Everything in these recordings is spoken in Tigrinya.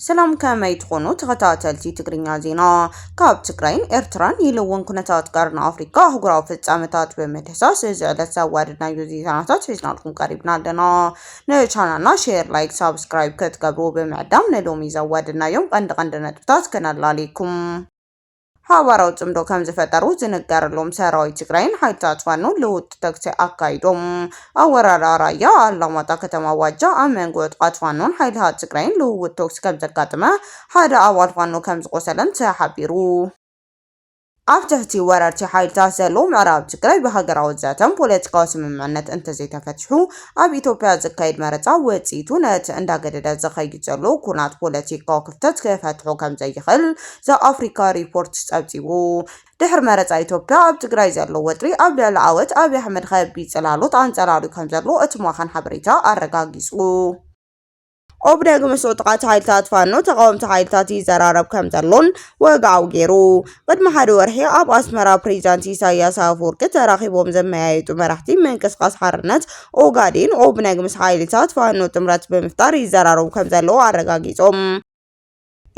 ሰላም ከመይ ትኾኑ ተኸታተልቲ ትግርኛ ዜና ካብ ትግራይን ኤርትራን ኢሉ እውን ኩነታት ቀርኒ ኣፍሪካ ኣህጉራዊ ፍጻመታት ብምድህሳስ እዚ ዕለት ዘዋደድናዮ ዜናታት ሒዝናልኩም ቀሪብና ኣለና ንቻናልና ሼር ላይክ ሳብስክራይብ ክትገብሩ ብምዕዳም ንሎሚ ዘዋደድናዮም ቀንዲ ቀንዲ ነጥብታት ክነላልየኩም ሓባራዊ ፅምዶ ከምዝፈጠሩ ዝንገረሎም ሰራዊት ትግራይን ሓይልታት ፋኖን ልውውጥ ተኩሲ ኣካይዶም። ኣብ ወረዳ ራያ ኣላማጣ ከተማ ዋጃ ኣብ መንጎ ዕጡቓት ፋኖን ሓይልታት ትግራይን ልውውጥ ተኩሲ ከምዘጋጠመ ሓደ ኣባል ፋኖ ከምዝቖሰለን ተሓቢሩ። ኣብ ትሕቲ ወረርቲ ሓይልታት ዘሎ ምዕራብ ትግራይ ብሃገራዊ ዘተን ፖለቲካዊ ስምምዕነት እንተዘይተፈቲሑ ኣብ ኢትዮጵያ ዝካየድ መረፃ ውፅኢቱ ነቲ እንዳገደደ ዝኸይድ ዘሎ ኩናት ፖለቲካዊ ክፍተት ክፈትሖ ከምዘይኽእል ዘ-ኣፍሪካ ሪፖርት ፀብፂቡ። ድሕሪ መረፃ ኢትዮጵያ ኣብ ትግራይ ዘሎ ወጥሪ ኣብ ልዕሊ ዓወት ኣብይ ኣሕመድ ከቢድ ፅላሎት ኣንፀላልዩ ከምዘሎ እቲ ማዕኸን ሓበሬታ ኣረጋጊፁ። ኦብነግ ምስ ዕጡቓት ሓይልታት ፋኖ ተቓወምቲ ሓይልታት ይዘራረብ ከምዘሎን ወግዓዊ ገይሩ። ቅድሚ ሓደ ወርሒ ኣብ ኣስመራ ፕሬዚዳንት ኢሳይያስ ኣፈወርቂ ተራኺቦም ዘመያየጡ መራሕቲ ምንቅስቓስ ሓርነት ኦጋዴን፣ ኦብነግ፣ ምስ ሓይልታት ፋኖ ጥምረት ብምፍጣር ይዘራረቡ ከምዘለዉ ኣረጋጊፆም።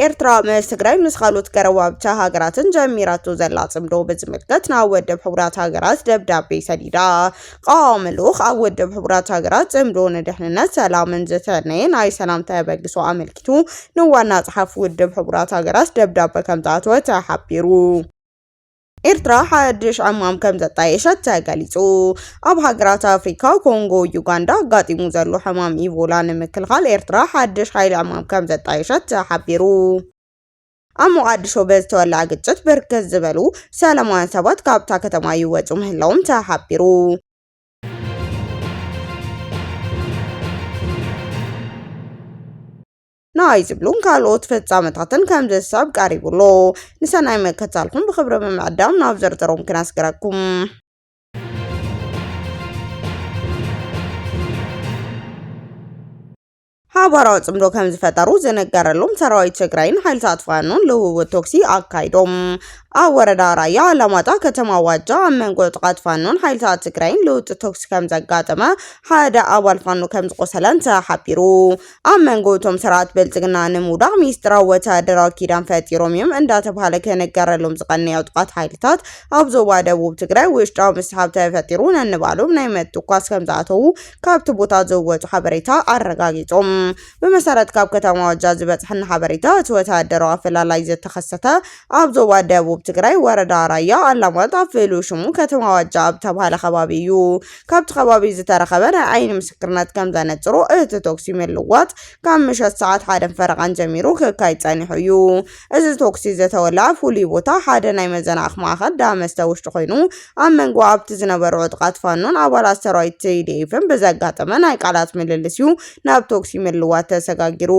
ኤርትራ ምስ ትግራይ ምስ ካልኦት ገረባብቲ ሃገራትን ጀሚራቶ ዘላ ጽምዶ ብዝምልከት ናብ ወደብ ሕቡራት ሃገራት ደብዳቤ ሰዲዳ። ቀዋሚ ልኡኽ ኣብ ወደብ ሕቡራት ሃገራት ጽምዶ ንድሕንነት ሰላምን ዝተነየ ናይ ሰላም ተበግሶ ኣመልኪቱ ንዋና ጸሓፊ ውድብ ሕቡራት ሃገራት ደብዳበ ከምዝኣተወ ተሓቢሩ። ኤርትራ ሓድሽ ዕማም ከም ዘጣየሸት ተገሊጹ። ኣብ ሃገራት ኣፍሪካ ኮንጎ ዩጋንዳ ኣጋጢሙ ዘሎ ሕማም ኢቮላ ንምክልኻል ኤርትራ ሓድሽ ሓይሊ ዕማም ከም ዘጣየሸት ተሓቢሩ። ኣብ ሞቓዲሾ በዝተወልዐ ግጭት ብርክት ዝበሉ ሰላማውያን ሰባት ካብታ ከተማ ይወጹ ምህላዎም ተሓቢሩ። ንኣይ ዝብሉን ካልኦት ፍጻመታትን ከም ዘሳብ ቀሪቡ ኣሎ። ንሰናይ መከታልኩም ብክብሪ ብምዕዳም ናብ ዝርዝሮም ክነስግረኩም። ሓባራዊ ጽምዶ ከም ዝፈጠሩ ዝነገረሎም ሰራዊት ትግራይን ሓይልታት ፋኖን ልውውጥ ቶክሲ ኣካይዶም። ኣብ ወረዳ ራያ ኣላማጣ ከተማ ዋጃ ኣብ መንጎ ጥቓት ፋኖን ሓይልታት ትግራይን ልውውጥ ቶክሲ ከም ዘጋጠመ ሓደ ኣባል ፋኖ ከም ዝቆሰለን ተሓቢሩ። ኣብ መንጎ እቶም ስርዓት ብልፅግና ንምውዳቕ ሚስጥራዊ ወተሃደራዊ ኪዳን ፈጢሮም እዮም እንዳተብሃለ ክንገረሎም ዝቐነየ ዕጡቓት ሓይልታት ኣብ ዞባ ደቡብ ትግራይ ውሽጣዊ ምስሓብ ተፈጢሩ ነንባዕሎም ናይ ምትኳስ ከምዝኣተዉ ካብቲ ቦታ ዝወፁ ሓበሬታ ኣረጋጊፆም። ብመሰረት ካብ ከተማ ዋጃ ዝበፅሐና ሓበሬታ እቲ ወተሃደራዊ ኣፈላላይ ዝተኸሰተ ኣብ ዞባ ደቡብ ትግራይ ወረዳ ራያ ኣላማጣ ፍሉይ ሽሙ ከተማ ዋጃ ኣብ ዝተብሃለ ከባቢ እዩ። ካብቲ ከባቢ ዝተረኸበ ናይ ዓይኒ ምስክርነት ከም ዘነጽሮ፣ እቲ ተኹሲ ምልዋጥ ካብ ምሸት ሰዓት ሓደን ፈረቓን ጀሚሩ ክካይድ ጸኒሑ እዩ። እዚ ተኹሲ ዝተወልዐ ፍሉይ ቦታ ሓደ ናይ መዘናእኽ ማእከል ዳ መስተ ውሽጢ ኮይኑ፣ ኣብ መንጎ ኣብቲ ዝነበሩ ዕጡቓት ፋኖን ኣባላት ሰራዊት ቲዲኤፍን ብዘጋጠመ ናይ ቃላት ምልልስ'ዩ ናብ ተኹሲ ምልዋት ተሰጋጊሩ።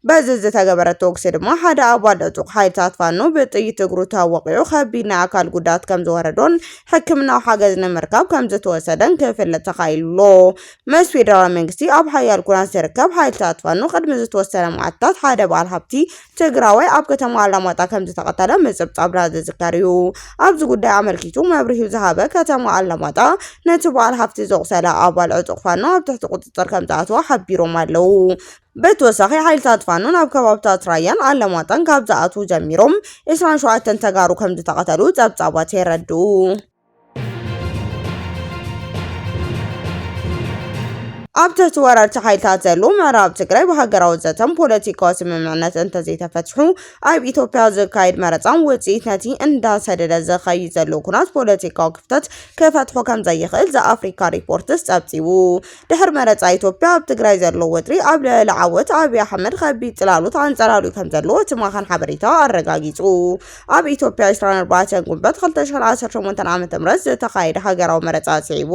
በዚ ዝተገበረ ተኩሲ ድማ ሓደ ኣባል ዕጡቕ ሓይልታት ፋኖ ብጥይት እግሩ ተወቒዑ ከቢድ ናይ ኣካል ጉድኣት ከምዝወረዶን ሕክምናዊ ሓገዝ ንምርካብ ከምዝተወሰደን ክፍለጥ ተኻኢሉ'ሎ። ምስ ፌደራል መንግስቲ ኣብ ሓያል ኩናት ዝርከብ ሓይልታት ፋኖ ቅድሚ ዝተወሰነ መዓልትታት ሓደ በዓል ሃብቲ ትግራዋይ ኣብ ከተማ ኣላማጣ ከምዝተቐተለ ምጽብጻብና ዝዝከር'ዩ። ኣብዚ ጉዳይ ኣመልኪቱ መብርሂ ዝሃበ ከተማ ኣላማጣ ነቲ በዓል ሃብቲ ዘቑሰለ ኣባል ዕጡቕ ፋኖ ኣብ ትሕቲ ቁጽጽር ከምዝኣተወ ሓቢሮም ኣለው። ብተወሳኺ ሓይልታት ፋኖ ናብ ከባብታት ራያን ኣለማጣን ካብ ዝኣትዉ ጀሚሮም 27 ተጋሩ ከምዝተቐተሉ ጸብጻባት የረድኡ። ኣብ ትሕቲ ወረርቲ ሓይልታት ዘሎ ምዕራብ ትግራይ ብሃገራዊ ዘተን ፖለቲካዊ ስምምዕነት እንተዘይተፈትሑ ኣብ ኢትዮጵያ ዝካየድ መረፃን ውፅኢት ነቲ እንዳሰደደ ዝኸይድ ዘሎ ኩናት ፖለቲካዊ ክፍተት ክፈትሖ ከም ዘይኽእል ዘኣፍሪካ ሪፖርትስ ፀብፂቡ። ድሕሪ መረፃ ኢትዮጵያ ኣብ ትግራይ ዘሎ ወጥሪ ኣብ ልዕሊ ዓወት ኣብይ ኣሕመድ ከቢድ ፅላሎት ኣንፀላልዩ ከም ዘሎ እቲ ማዕኸን ሓበሬታ ኣረጋጊፁ። ኣብ ኢትዮጵያ 24 ጉንበት 2018 ዓ.ም ዝተኻየደ ሃገራዊ መረፃ ስዒቡ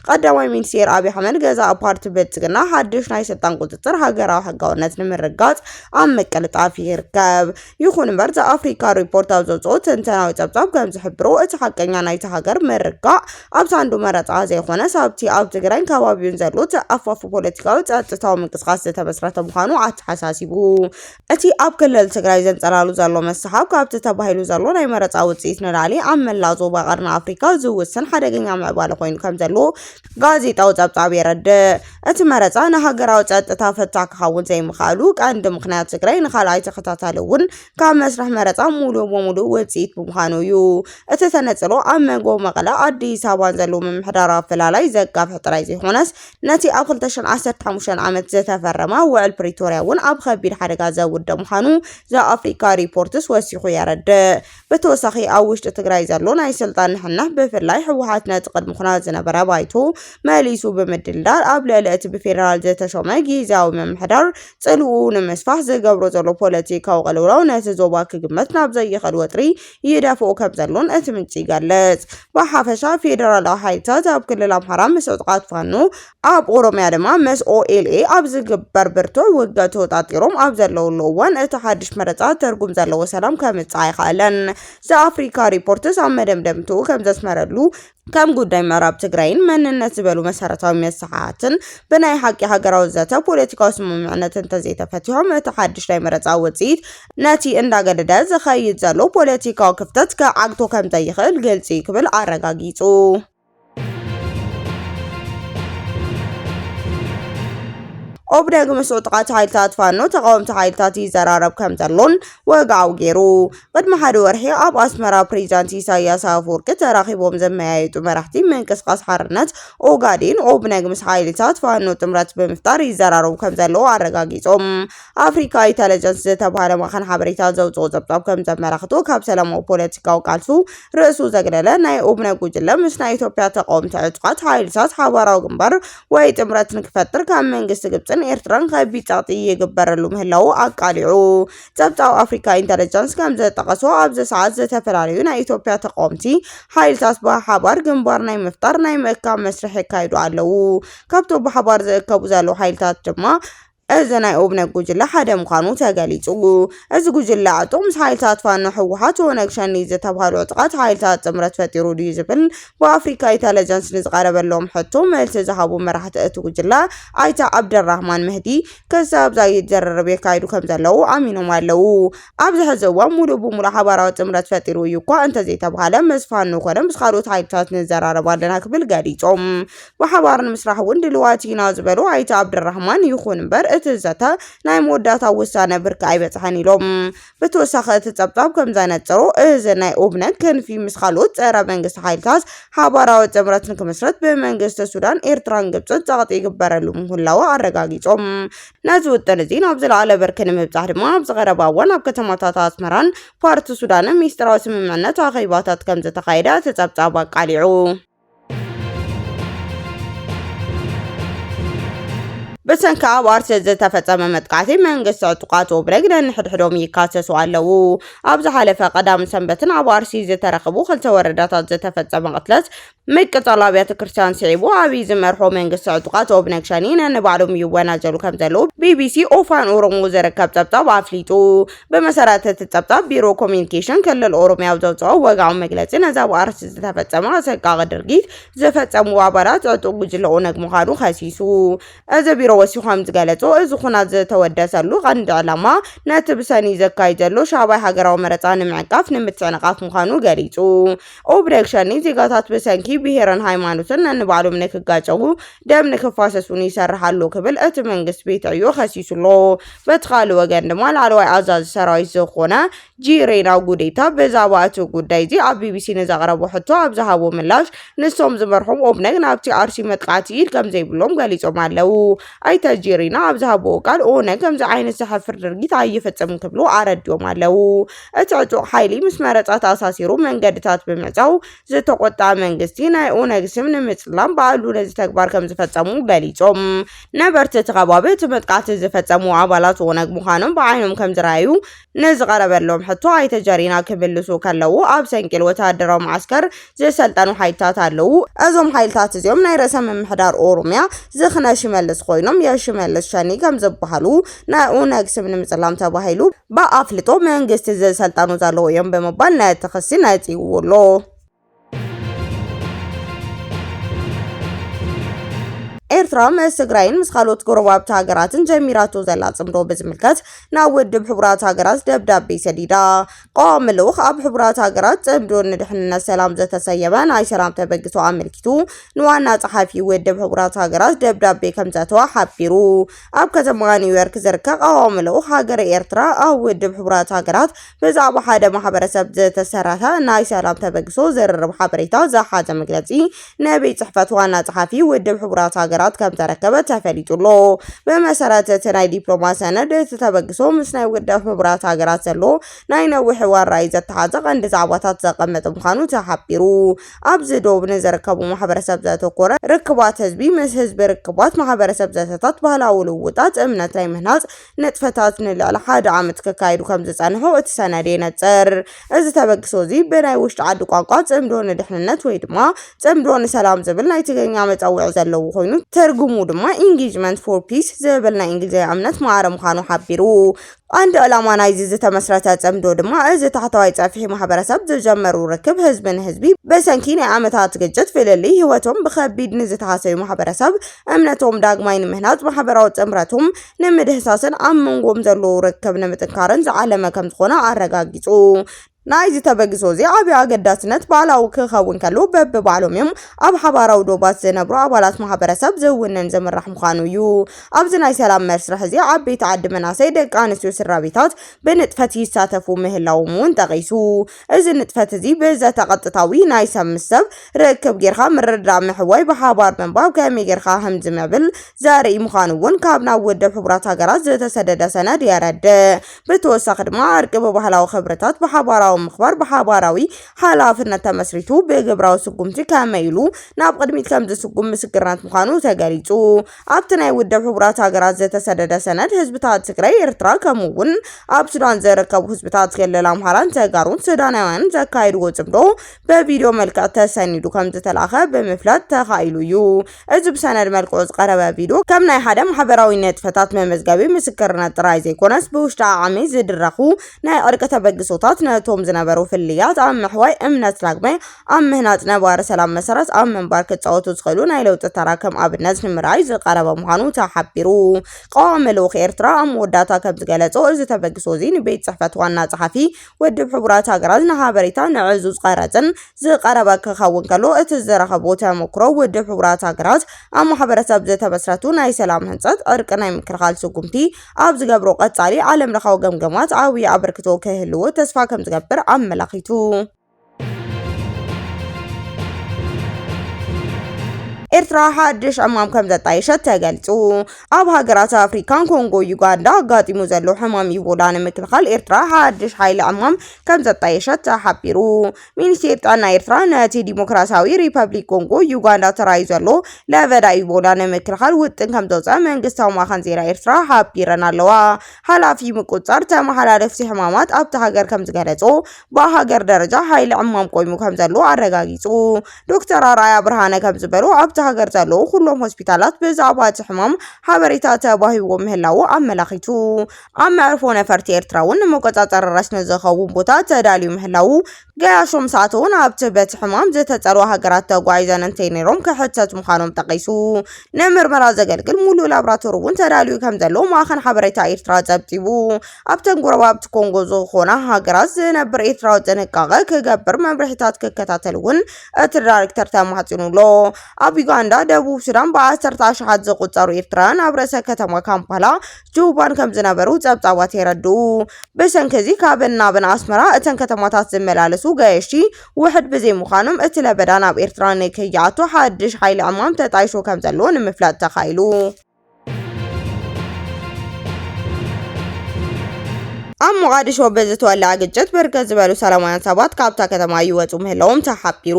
ቀዳማይ ሚኒስቴር ኣብይ ኣሕመድ ገዛኢ ፓርቲ ብልፅግና ሓድሽ ናይ ስልጣን ቁፅፅር ሃገራዊ ሕጋውነት ንምርግጋፅ ኣብ ምቅልጣፍ ይርከብ። ይኹን እምበር ዘኣፍሪካ ሪፖርት ኣብ ዘውፅኦ ትንተናዊ ፀብፃብ ከምዝሕብሮ እቲ ሓቀኛ ናይታ ሃገር ምርጋእ ኣብ ሳንዱ መረፃ ዘይኮነስ ኣብቲ ኣብ ትግራይን ከባቢኡን ዘሎ ተኣፋፊ ፖለቲካዊ ፀጥታዊ ምንቅስቃስ ዝተመስረተ ምዃኑ ኣተሓሳሲቡ እቲ ኣብ ክልል ትግራይ ዘንፀላሉ ዘሎ መስሓብ ካብቲ ተባሂሉ ዘሎ ናይ መረፃ ውፅኢት ንላዕሊ ኣብ መላእ ዞባ ቀርኒ ኣፍሪካ ዝውስን ሓደገኛ ምዕባለ ኮይኑ ከምዘሎ ጋዜጣዊ ጸብጻብ የረድእ። እቲ መረጻ ንሃገራዊ ጸጥታ ፈታህ ክኸውን ዘይምኽኣሉ ቀንዲ ምኽንያት ትግራይ ንካልኣይ ተኸታታሊ እውን ካብ መስርሕ መረጻ ሙሉእ ብሙሉእ ውጽኢት ብምዃኑ እዩ። እቲ ተነጽሎ ኣብ መንጎ መቐለ ኣዲስ ኣበባን ዘሎ ምምሕዳራዊ ኣፈላላይ ዘጋፍሕ ጥራይ ዘይኮነስ ነቲ ኣብ 2015 ዓመት ዝተፈረመ ውዕል ፕሪቶርያ እውን ኣብ ከቢድ ሓደጋ ዘውድእ ምዃኑ ዘኣፍሪካ ሪፖርትስ ወሲኹ የረድእ። ብተወሳኺ ኣብ ውሽጢ ትግራይ ዘሎ ናይ ስልጣን ንሕንሕ ብፍላይ ህወሓት ነቲ ቅድሚ ኹናት ዝነበረ ባይቶ መሊሱ ብምድልዳል ኣብ ልዕሊ እቲ ብፌደራል ዝተሾመ ጊዚያዊ ምምሕዳር ፅልውኡ ንምስፋሕ ዝገብሮ ዘሎ ፖለቲካዊ ቅልውላው ነቲ ዞባ ክግመት ናብ ዘይኽእል ወጥሪ ይደፍኦ ከምዘሎን እቲ ምንጪ ይገልፅ። ብሓፈሻ ፌደራላዊ ሓይልታት ኣብ ክልል ኣምሓራ ምስ ዕጡቓት ፋኖ ኣብ ኦሮምያ ድማ ምስ ኦኤልኤ ኣብ ዝግበር ብርቱዕ ውግእ ተወጣጢሮም ኣብ ዘለውሉ እዋን እቲ ሓድሽ መረፃ ትርጉም ዘለዎ ሰላም ከምፅእ ኣይኸኣለን። ዘኣፍሪካ ሪፖርትስ ኣብ መደምደምትኡ ከም ዘስመረሉ ከም ጉዳይ ምዕራብ ትግራይን መንነት ዝበሉ መሰረታዊ መሰሓትን ብናይ ሓቂ ሃገራዊ ዘተ ፖለቲካዊ ስምምዕነት እንተዘይተፈቲሖም እቲ ሓድሽ ናይ መረፃ ውፅኢት ነቲ እንዳገደደ ዝኸይድ ዘሎ ፖለቲካዊ ክፍተት ክዓግቶ ከምዘይኽእል ግልፂ ክብል ኣረጋጊፁ። ኦብነግ ምስ ዕጡቓት ሓይልታት ፋኖ ተቓወምቲ ሓይልታት ይዘራረብ ከም ዘሎን ወግዓዊ ገይሩ። ቅድሚ ሓደ ወርሒ ኣብ ኣስመራ ፕሬዚዳንት ኢሳያስ ኣፈወርቂ ተራኺቦም ዘመያየጡ መራሕቲ ምንቅስቓስ ሓርነት ኦጋዴን ኦብነግ ምስ ሓይልታት ፋኖ ጥምረት ብምፍጣር ይዘራረቡ ከም ዘለዉ ኣረጋጊጾም። ኣፍሪካ ኢንተለጀንስ ዝተብሃለ ማዕኸን ሓበሬታ ዘውፅኦ ፀብፃብ ከም ዘመላኽቶ ካብ ሰላማዊ ፖለቲካዊ ቃልሱ ርእሱ ዘግለለ ናይ ኡብነ ጉጅለ ምስ ናይ ኢትዮጵያ ተቃወምቲ ዕጡቓት ሓይልታት ሓባራዊ ግንባር ወይ ጥምረት ንክፈጥር ካብ መንግስቲ ግብፅን ኤርትራን ከቢድ ጸቕጢ ይግበረሉ ምህላዉ ኣቃሊዑ። ጸብጻብ ኣፍሪካ ኢንተለጀንስ ከም ዘጠቐሶ ኣብዚ ሰዓት ዝተፈላለዩ ናይ ኢትዮጵያ ተቃወምቲ ሓይልታት ብሓባር ግንባር ናይ ምፍጣር ናይ ምእካብ መስርሕ የካይዱ ኣለዉ። ካብቶም ብሓባር ዝእከቡ ዘለዉ ሓይልታት ድማ እዚ ናይ ኦብነግ ጉጅለ ሓደ ምዃኑ ተገሊፁ። እዚ ጉጅለ ዕጡቕ ምስ ሓይልታት ፋኖ፣ ህወሓት፣ ኦነግ ሸኔ ዝተብሃሉ ዕጡቓት ሓይልታት ጥምረት ፈጢሩ ድዩ ዝብል ብኣፍሪካ ኢተለጀንስ ንዝቐረበሎም ሕቶ መልሲ ዝሃቡ መራሕቲ እቲ ጉጅለ ኣይተ ዓብደልራህማን መህዲ ክሳብ ዛጊድ ዝርርብ የካይዱ ከምዘለዉ ኣሚኖም ኣለዉ። ኣብዚ ሕዚ እዋን ሙሉእ ብሙሉእ ሓባራዊ ጥምረት ፈጢሩ እዩ እኳ እንተዘይተብሃለ ምስ ፋኖ ኮነ ምስ ካልኦት ሓይልታት ንዘራረብ ኣለና ክብል ገሊፆም። ብሓባር ንምስራሕ እውን ድልዋት ኢና ዝበሉ ኣይተ ኣብደራህማን፣ ይኹን እምበር እቲ ዘተ ናይ መወዳእታ ውሳነ ብርኪ ኣይበፅሐን ኢሎም። ብተወሳኺ እቲ ፀብፃብ ከምዘነፅሮ እዚ ናይ ኦብነግ ክንፊ ምስ ካልኦት ፀረ መንግስቲ ሓይልታት ሓባራዊ ጥምረት ንክምስረት ብመንግስቲ ሱዳን፣ ኤርትራን ግብፅን ፀቕጢ ይግበረሉ ምህላዉ ኣረጋጊፆም። ነዚ ውጥን እዚ ናብ ዝለዓለ ብርኪ ንምብፃሕ ድማ ኣብዚ ቀረባ እዋን ኣብ ከተማታት ኣስመራን ፓርት ሱዳንን ሚስጢራዊ ስምምዕነት ኣኼባታት ከምዘተኻየደ እቲ ፀብፃብ ኣቃሊዑ። ብሰንኪ ኣብ ኣርሲ ዝተፈጸመ መጥቃዕቲ መንግስቲ ዕጡቃት ኦብነግ ነንሕድሕዶም ይካሰሱ ኣለዉ። ኣብ ዝሓለፈ ቀዳም ሰንበትን ኣብ ኣርሲ ዝተረኽቡ ክልተ ወረዳታት ዝተፈጸመ ቅትለት ምቅጻል ኣብያተ ክርስቲያን ስዒቡ ኣብይ ዝመርሖ መንግስቲ ዕጡቃት ኦብነግ ሸኔ ነንባዕሎም ይወናጀሉ ከም ዘለዉ ቢቢሲ ኦፋን ኦሮሞ ዝርከብ ጸብጻብ ኣፍሊጡ። ብመሰረት እቲ ጸብጻብ ቢሮ ኮሚኒኬሽን ክልል ኦሮሚያ ኣብ ዘውፅኦ ወግዓዊ መግለፂ ነዚ ኣብ ኣርሲ ዝተፈጸመ ኣሰቃቂ ድርጊት ዝፈጸሙ ኣባላት ዕጡቕ ጉጅለ ኦነግ ምዃኑ ከሲሱ። እዚ ቢሮ ወሲኹ ከም ዝገለጾ እዚ ኹናት ዝተወደሰሉ ቀንዲ ዕላማ ነቲ ብሰኒ ዘካይድ ዘሎ ሻባይ ሃገራዊ መረፃ ንምዕንቃፍ ንምትዕንቓፍ ምዃኑ ገሊጹ። ኦብነግ ሸኔ ዜጋታት ብሰንኪ ብሄርን ሃይማኖትን ነንባዕሎም ንክጋጨዉ ደም ንክፋሰሱን ይሰርሕ ኣሎ ክብል እቲ መንግስት ቤት ዕዮ ከሲሱ ኣሎ። በቲ ካልእ ወገን ድማ ላዕለዋይ ኣዛዚ ሰራዊት ዝኾነ ጂሬና ጉዴታ ብዛዕባ እቲ ጉዳይ እዚ ኣብ ቢቢሲ ንዘቕረቦ ሕቶ ኣብ ዝሃቦ ምላሽ ንሶም ዝመርሖም ኦብነግ ናብቲ ኣርሲ መጥቃዕቲ ኢድ ከም ዘይብሎም ገሊጾም ኣለዉ። ኣይተ ጂሬና ኣብ ዝሃብዎ ቃል ኦነግ ከምዚ ዓይነት ዘሕፍር ድርጊት ኣይፍጽምን ክብሉ ኣረዲኦም ኣለዉ። እቲ ዕጡቕ ሓይሊ ምስ መረፃ ተኣሳሲሩ መንገድታት ብምዕፃው ዝተቖጠዐ መንግስቲ ናይ ኦነግ ስም ንምፅላም ባዕሉ ነዚ ተግባር ከምዝፈፀሙ ገሊፆም። ነበርቲ እቲ ከባቢ እቲ መጥቃዕቲ ዝፈፀሙ ኣባላት ኦነግ ምዃኖም ብዓይኖም ከምዝረኣዩ ንዝቐረበሎም ሕቶ ኣይተ ጀሪና ክምልሱ ከለው ኣብ ሰንቂል ወተሃደራዊ መዓስከር ዝሰልጠኑ ሓይልታት ኣለዉ። እዞም ሓይልታት እዚኦም ናይ ርእሰ ምምሕዳር ኦሮሚያ ዝኽነ ሽመልስ ኮይኖም የሽመልስ ሸኒ ከም ዝበሃሉ ናይ ኦነግ ስም ንምጽላም ተባሂሉ ብኣፍልጦ መንግስቲ ዝሰልጠኑ ዘለዉ እዮም ብምባል ነቲ ክሲ ነጺግዎ ኣሎ። ኤርትራ ምስ ትግራይን ምስ ካልኦት ጎረባብቲ ሃገራትን ጀሚራቶ ዘላ ጽምዶ ብዝምልከት ናብ ውድብ ሕቡራት ሃገራት ደብዳቤ ሰዲዳ። ቀዋሚ ልኡኽ ኣብ ሕቡራት ሃገራት ጽምዶ ንድሕንነት ሰላም ዘተሰየመ ናይ ሰላም ተበግሶ ኣመልኪቱ ንዋና ጸሓፊ ውድብ ሕቡራት ሃገራት ደብዳቤ ከም ዘተወ ሓቢሩ። ኣብ ከተማ ኒውዮርክ ዝርከብ ቀዋሚ ልኡኽ ሃገረ ኤርትራ ኣብ ውድብ ሕቡራት ሃገራት ብዛዕባ ሓደ ማሕበረሰብ ዝተሰረተ ናይ ሰላም ተበግሶ ዝርርብ ሓበሬታ ዝሓዘ መግለጺ ንቤት ጽሕፈት ዋና ጸሓፊ ውድብ ሕቡራት ሃገራት ከም ተረከበ ተፈሊጡ ኣሎ። ብመሰረት እቲ ናይ ዲፕሎማ ሰነድ እቲ ተበግሶ ምስ ናይ ውድብ ሕቡራት ሃገራት ዘሎ ናይ ነዊሕ እዋን ራእይ ዘተሓዘ ቀንዲ ዛዕባታት ዘቐመጠ ምዃኑ ተሓቢሩ። ኣብዚ ዶብ ንዝርከቡ ማሕበረሰብ ዘተኮረ ርክባት ህዝቢ ምስ ህዝቢ፣ ርክባት ማሕበረሰብ፣ ዘተታት፣ ባህላዊ ልውውጣት፣ እምነት ናይ ምህናጽ፣ ንጥፈታት ንልዕሊ ሓደ ዓመት ክካየዱ ከም ዝጸንሑ እቲ ሰነድ የነጽር። እዚ ተበግሶ እዚ ብናይ ውሽጢ ዓዲ ቋንቋ ጽምዶ ንድሕንነት ወይ ድማ ጽምዶ ንሰላም ዝብል ናይ ትግርኛ መጸውዒ ዘለዎ ኮይኑ ትርጉሙ ድማ ኢንጌጅመንት ፎር ፒስ ዝብል ናይ እንግሊዝኛ እምነት ማዕረ ምዃኑ ሓቢሩ። ቀንዲ ዕላማ ናይዚ ዝተመስረተ ጽምዶ ድማ እዚ ታሕተዋይ ጸፍሒ ማሕበረሰብ ዝጀመሩ ርክብ ህዝቢ ንህዝቢ ብሰንኪ ናይ ዓመታት ግጭት ፍልልይ ህይወቶም ብኸቢድ ንዝተሃሰዩ ማሕበረሰብ እምነቶም ዳግማይ ንምህናጽ ማሕበራዊ ጥምረቶም ንምድህሳስን ኣብ መንጎም ዘሎ ርክብ ንምጥንካርን ዝዓለመ ከምዝኾነ ኣረጋጊጹ። ናይዚ ተበግሶ እዚ ዓብይ ኣገዳስነት ባዕላዊ ክኸውን ከሎ በብባዕሎም እዮም ኣብ ሓባራዊ ዶባት ዝነብሩ ኣባላት ማሕበረሰብ ዝውንን ዝምራሕ ምዃኑ እዩ። ኣብዚ ናይ ሰላም መስርሕ እዚ ዓበይቲ ዓዲ መናሰይ ደቂ ኣንስትዮ ስድራቤታት ብንጥፈት ይሳተፉ ምህላዎም እውን ጠቒሱ። እዚ ንጥፈት እዚ ብዘተ ቐጥታዊ ናይ ሰብ ምስ ሰብ ርክብ ጌርካ ምርድዳእ ምሕዋይ ብሓባር ምንባብ ከመይ ጌርካ ህም ዝምዕብል ዘርኢ ምዃኑ እውን ካብ ናብ ውድብ ሕቡራት ሃገራት ዝተሰደደ ሰነድ የረድእ። ብተወሳኺ ድማ ዕርቂ ብባህላዊ ክብርታት ብሓባራዊ ምኽባር ብሓባራዊ ሓላፍነት ተመስሪቱ ብግብራዊ ስጉምቲ ከመይ ኢሉ ናብ ቕድሚት ከም ዝስጉም ምስክርነት ምዃኑ ተገሊፁ። ኣብቲ ናይ ውድብ ሕቡራት ሃገራት ዝተሰደደ ሰነድ ህዝብታት ትግራይ፣ ኤርትራ ከምኡ እውን ኣብ ሱዳን ዝርከቡ ህዝብታት ክልል ኣምሓራን ተጋሩን ሱዳናውያንን ዘካየድዎ ጽምዶ በቪድዮ መልክዕ ተሰኒዱ ከም ዝተላእኸ ብምፍላጥ ተኻኢሉ እዩ። እዚ ብሰነድ መልክዑ ዝቐረበ ቪድዮ ከም ናይ ሓደ ማሕበራዊ ንጥፈታት መመዝገቢ ምስክርነት ጥራይ ዘይኮነስ ብውሽጢ ዓዓሚ ዝድረኹ ናይ ዕርቂ ተበግሶታት ነቶም ዝነበሩ ፍልልያት ኣብ ምሕዋይ እምነት ዳግመ ኣብ ምህናጽ ነባሪ ሰላም መሰረት ኣብ ምንባር ክጻወቱ ዝኽእሉ ናይ ለውጢ ተራ ከም ኣብነት ንምርኣይ ዝቐረበ ምዃኑ ተሓቢሩ። ቀዋሚ ልኡኽ ኤርትራ ኣብ መወዳእታ ከም ዝገለጾ፣ እዚ ተበግሶ'ዚ ንቤት ጽሕፈት ዋና ጸሓፊ ውድብ ሕቡራት ሃገራት ንሓበሬታ ንዕዙዝ ቐረጽን ዝቐረበ ክኸውን ከሎ፣ እቲ ዝረኸቦ ተመኩሮ ውድብ ሕቡራት ሃገራት ኣብ ማሕበረሰብ ዝተመስረቱ ናይ ሰላም ህንጸት፣ ዕርቂ፣ ናይ ምክልኻል ስጉምቲ ኣብ ዝገብሮ ቀጻሊ ዓለምለኻዊ ገምገማት ዓብዪ ኣበርክቶ ክህልዎ ተስፋ ከም ዝገብር ኣመላኺቱ። ኤርትራ ሓድሽ ሕማም ከም ዘጣየሸት ተገልጹ። ኣብ ሃገራት ኣፍሪካን ኮንጎ ዩጋንዳ ኣጋጢሙ ዘሎ ሕማም ኢቦላ ንምክልኻል ኤርትራ ሓድሽ ሓይሊ ዕማም ከም ዘጣየሸት ተሓቢሩ። ሚኒስቴር ጥዕና ኤርትራ ነቲ ዲሞክራሲያዊ ሪፐብሊክ ኮንጎ ዩጋንዳ ተራዩ ዘሎ ለበዳ ኢቦላ ንምክልኻል ውጥን ከም ዘውፀ መንግስታዊ ማኸን ዜና ኤርትራ ሓቢረን ኣለዋ። ሓላፊ ምቁፅፃር ተመሓላለፍቲ ሕማማት ኣብቲ ሃገር ከም ዝገለጾ ብሃገር ደረጃ ሓይሊ ዕማም ቆይሙ ከምዘሎ ኣረጋጊጹ። ዶክተር ኣርኣያ ብርሃነ ከምዝበሉ ኣብቲ ሃገር ዘለዉ ኩሎም ሆስፒታላት ብዛዕባ እቲ ሕማም ሓበሬታ ተዋሂብዎ ምህላዉ ኣመላኺቱ። ኣብ መዕርፎ ነፈርቲ ኤርትራ እውን ንመቆጻጸሪ ረስኒ ዝኸውን ቦታ ተዳልዩ ምህላዉ ገያሾ ምስ ኣተዉ ናብቲ በቲ ሕማም ዝተጸልዋ ሃገራት ተጓዒዘን እንተይነይሮም ክሕተቱ ምዃኖም ጠቒሱ። ንምርመራ ዘገልግል ሙሉእ ላብራቶሪ እውን ተዳልዩ ከምዘሎ ማእኸን ሓበሬታ ኤርትራ ጸብጺቡ። ኣብተን ጎረባብቲ ኮንጎ ዝኾና ሃገራት ዝነብር ኤርትራዊ ጥንቃቐ ክገብር መምርሒታት ክከታተል እውን እቲ ዳይሬክተር ተማሕጺኑ ኣሎ። ኣብ ዩጋንዳ፣ ደቡብ ሱዳን ብዓሰርተ ኣሽሓት ዝቑጸሩ ኤርትራውያን ኣብ ርእሰ ከተማ ካምፓላ ጁባን ከም ዝነበሩ ጸብጻባት የረድኡ። ብሰንኪ እዚ ካብን ናብን ኣስመራ እተን ከተማታት ዝመላለሱ ገየሽቲ ውሕድ ብዘይምዃኖም እቲ ለበዳ ናብ ኤርትራ ንከይኣቱ ሓድሽ ሓይሊ ዕማም ተጣይሹ ከም ዘሎ ንምፍላጥ ተኻኢሉ። ኣብ ሞቓዲሾ ብዝተወለዐ ግጭት ብርክት ዝበሉ ሰላማውያን ሰባት ካብታ ከተማ ይወፁ ምህላዎም ተሓቢሩ።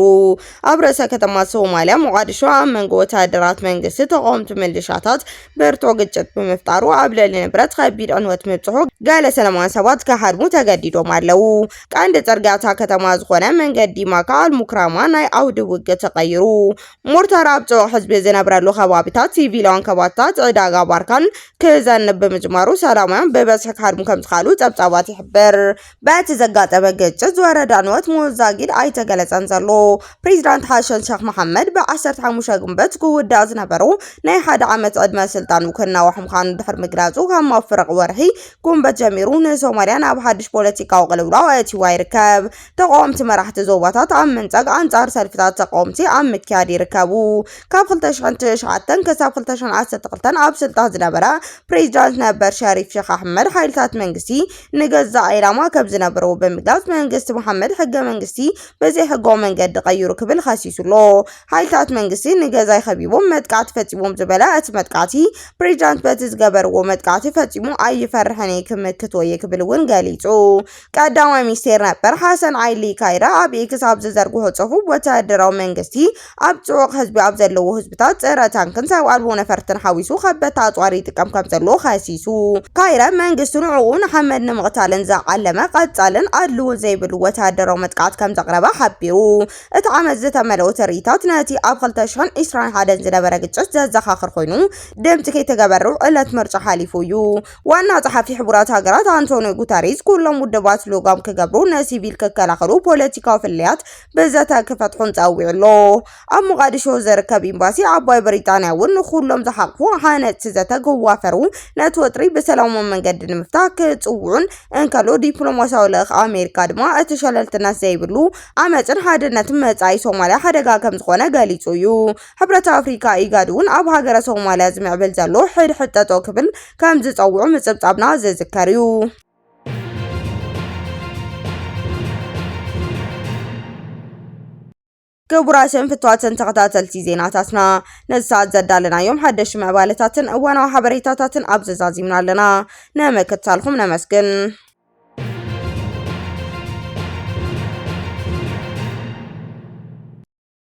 ኣብ ርእሰ ከተማ ሶማልያ ሞቓዲሾ ኣብ መንጎ ወተሃደራት መንግስቲ ተቃወምቲ ምልሻታት ብርቶ ግጭት ብምፍጣሩ ኣብ ልዕሊ ንብረት ከቢድ ዕንወት ምብፅሑ ገለ ሰላማውያን ሰባት ክሃድሙ ተገዲዶም ኣለው። ቀንዲ ፅርግያ እታ ከተማ ዝኾነ መንገዲ ማካ ኣልሙክራማ ናይ ኣውዲ ውግእ ተቐይሩ ሞርታር ኣብ ጽዑቕ ህዝቢ ዝነብረሉ ከባቢታት ሲቪላውያን ከባቢታት ዕዳጋ ባርካን ክዘንብ ብምጅማሩ ሰላማውያን ብበዝሒ ክሃድሙ ከም ዝኸኣሉ ጸብጻባት ይሕብር። በቲ ዘጋጠመ ግጭት ዝወረደ ዕንወት ምዉት ዛጊድ ኣይተገለጸን ዘሎ። ፕሬዚዳንት ሓሰን ሸኽ መሓመድ ብ15 ግንቦት ክውዳእ ዝነበሮ ናይ ሓደ ዓመት ዕድመ ስልጣኑ ክናዋሕ ምዃኑ ድሕሪ ምግላጹ ካብ መፍርቕ ወርሒ ግንቦት ጀሚሩ ንሶማልያ ናብ ሓድሽ ፖለቲካዊ ቅልውላው ኣእትይዋ ይርከብ። ተቓወምቲ መራሕቲ ዞባታት ኣብ ምንጻግ ኣንጻር ሰልፍታት ተቓወምቲ ኣብ ምክያድ ይርከቡ። ካብ 2009 ክሳብ 2012 ኣብ ስልጣን ዝነበረ ፕሬዚዳንት ነበር ሸሪፍ ሸኽ ኣሕመድ ሓይልታት መንግስቲ ንገዛእ ዒላማ ከም ዝነበርዎ ብምግላጽ መንግስቲ መሓመድ ሕገ መንግስቲ ብዘይሕጋዊ መንገዲ ቀይሩ ክብል ኸሲሱ'ሎ። ሓይልታት መንግስቲ ንገዛይ ኸቢቦም መጥቃዕቲ ፈጺሞም ዝበለ እቲ መጥቃዕቲ ፕሬዚዳንት በቲ ዝገበርዎ መጥቃዕቲ ፈጺሙ ኣይፈርሕን እየ ክምክቶ እየ ክብል እውን ገሊጹ። ቀዳማይ ሚኒስቴር ነበር ሓሰን ዓይሊ ካይረ ኣብ ኤክስ ኣብ ዝዘርግሖ ጽሑፍ፣ ወተሃደራዊ መንግስቲ ኣብ ጽዑቕ ህዝቢ ኣብ ዘለዎ ህዝብታት ጸረ ታንክን ሰብ ኣልቦ ነፈርትን ሓዊሱ ከበድቲ ኣጽዋር ይጥቀም ከምዘሎ ከሲሱ። ካይረ መንግስቲ ንዕኡ ንሓመድ ንምቕታልን ዝዓለመ ቀጻልን ኣድልዎን ዘይብሉ ወተሃደራዊ መጥቃዕቲ ከምዘቕረበ ሓቢሩ። እቲ ዓመጽ ዝተመልኦ ትርኢታት ነቲ ኣብ ክልተ ሽሕን ዒስራን ሓደን ዝነበረ ግጭት ዘዘኻኽር ኮይኑ፣ ድምጺ ከይተገበርው ዕለት ምርጫ ሓሊፉ እዩ። ዋና ጸሓፊ ሕቡራት ሃገራት ኣንቶንዮ ጉተሬዝ ኩሎም ውድባት ሎጋም ክገብሩ፣ ንሲቪል ክከላኸሉ፣ ፖለቲካዊ ፍልልያት ብዘተ ክፈትሑን ጸዊዑ ኣሎ። ኣብ ሞቓዲሾ ዝርከብ ኤምባሲ ዓባይ ብሪጣንያ እውን ንኹሎም ዝሓቕፉ ሃነጽቲ ዘተ ክዋፈሩ፣ ነቲ ወጥሪ ብሰላማዊ መንገዲ ንምፍታሕ ክጽውዑን እንከሎ፣ ዲፕሎማስያዊ ልእኽ ኣሜሪካ ድማ እቲ ሸለልትነት ዘይብሉ ዓመጽን ሓድነትን መጻኢ ሶማልያ ሓደጋ ከምዝኾነ ገሊጹ እዩ። ሕብረት ኣፍሪካ፣ ኢጋድ፣ እውን ኣብ ሃገረ ሶማልያ ዝምዕብል ዘሎ ሕድሕድ ጠጠው ክብል ከምዝፀውዑ ምፅብፃብና ዝዝከር እዩ። ክቡራትን ፍትዋትን ተኸታተልቲ ዜናታትና ነዚ ሰዓት ዘዳለናዮም ሓደሽቲ ምዕባለታትን እዋናዊ ሓበሬታታትን ኣብ ዘዛዚምና ኣለና። ንምክትታልኩም ነመስግን።